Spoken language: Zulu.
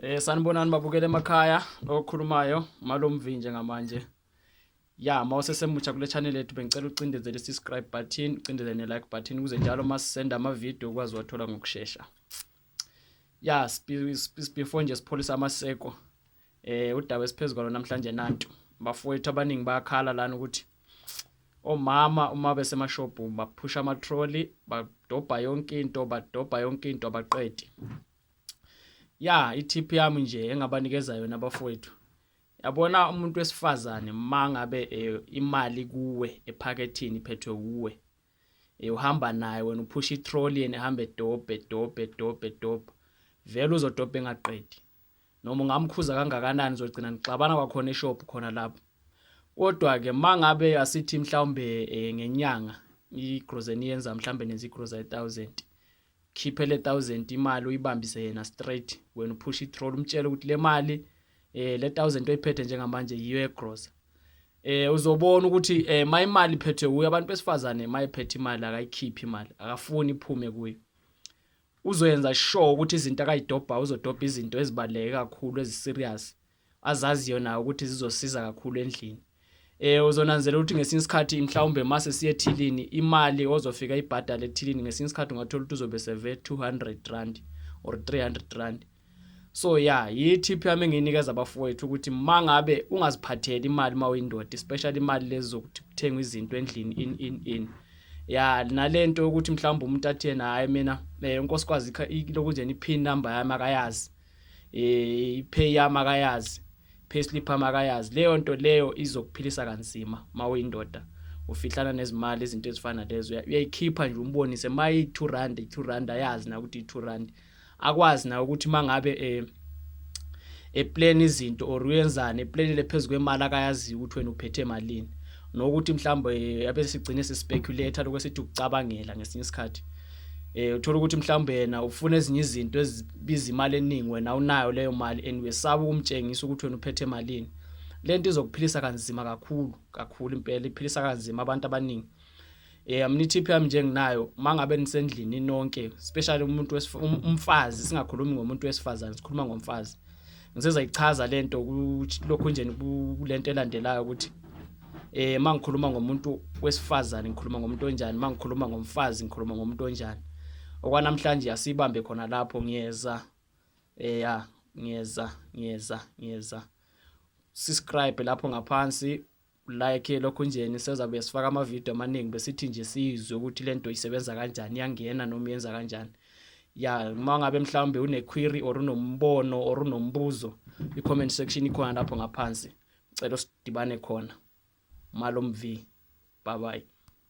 Eh sanibonani babukele emakhaya okhulumayo malomvinje ngamanje. Ya mawusesemutsha kule channel yethu bengicela ucindezele subscribe button, ucindezele ne like button ukuze njalo masisenda ama video ukwazi wathola ngokusheshsha. Ya sibefore nje sipholisa amaseko. Eh udaba esiphezulu kwalo namhlanje nantu. Bafowethu abaningi bayakhala lana ukuthi omama uma besemashophu baphusha ama trolley, badobha yonke into, badobha yonke into abaqedi. ya itip yami nje engabanikeza yona abafowethu yabona umuntu wesifazane mangabe eh, imali kuwe ephakethini iphethwe kuwe eh, uhamba naye wena uphusha itrolley and ehambe dobhe dobhe dobhe dobhe vele uzodobha engaqedi noma ungamkhuza kangakanani uzogcina nixabana kwakhona eshop khona lapho kodwa ke mangabe asithi mhlawumbe eh, ngenyanga igrocery yenza mhlawumbe nenza igrocery 1000 khiphe le 1000 imali uyibambise yena straight wena uphusha itroll umtshele ukuthi le mali eh le 1000 oyiphethe njengamanje yiyo egrosa eh uzobona ukuthi eh my imali iphethwe kuyo abantu besifazane mayiphethe imali akayikhiphi imali akafuni iphume kuyo uzoyenza sure ukuthi izinto akayidobha uzodobha izinto ezibaleke kakhulu eziserious azaziyo nayo ukuthi zizosiza kakhulu endlini eh uzonanzela ukuthi ngesinye isikhathi mhlawumbe mase siye ethilini imali ozofika ibhadala ethilini ngesinye isikhathi ungathola ukuthi uzobe seve 200 rand or 300 rand so ya yithip yami engiyinikeza abafowethu ukuthi mangabe ungaziphatheli imali uma uyindoda especially imali lezi zokuthi kuthengwa izinto endlini in in in ya nalento ukuthi mhlawumbe umuntu athi yena hayi mina eh, unkosikazi lokhu nje ni pin number yami akayazi eh ipay yami akayazi payslip yami akayazi leyo nto leyo izokuphilisa kanzima mawuyindoda ufihlana nezimali izinto ezifana lezo uyayikhipha nje umbonise mayi 2 rand 2 rand ayazi na ukuthi 2 rand akwazi na ukuthi mangabe eh eplan izinto or uyenzani eplan lephezulu kwemali akayazi ukuthi wena uphethe emalini nokuthi mhlawumbe eh, abesigcine sispeculate lokho esithi ukucabangela ngesinye isikhathi eh uthola ukuthi mhlawumbe yena ufuna ezinye izinto ezibiza imali eningi wena unayo leyo mali and wesaba ukumtshengisa ukuthi wena uphethe malini lento izokuphilisa kanzima kakhulu kakhulu impela iphilisa kanzima abantu abaningi eh mina itip yami nje nginayo mangabe nisendlini nonke especially umuntu um, umfazi singakhulumi ngomuntu wesifazane sikhuluma ngomfazi ngiseza ichaza lento lokhu nje kulento elandelayo ukuthi eh mangikhuluma ngomuntu wesifazane ngikhuluma ngomuntu onjani mangikhuluma ngomfazi ngikhuluma ngomuntu onjani okwanamhlanje asibambe khona lapho ngiyeza eh ya ngiyeza ngiyeza ngiyeza subscribe lapho ngaphansi like lokho njeni sezabe sifaka ama video amaningi besithi nje sizwe ukuthi lento isebenza kanjani yangena noma yenza kanjani ya uma ngabe mhlawumbe une query or unombono or unombuzo i comment section ikhona lapho ngaphansi ngicela usidibane khona malomvi bye bye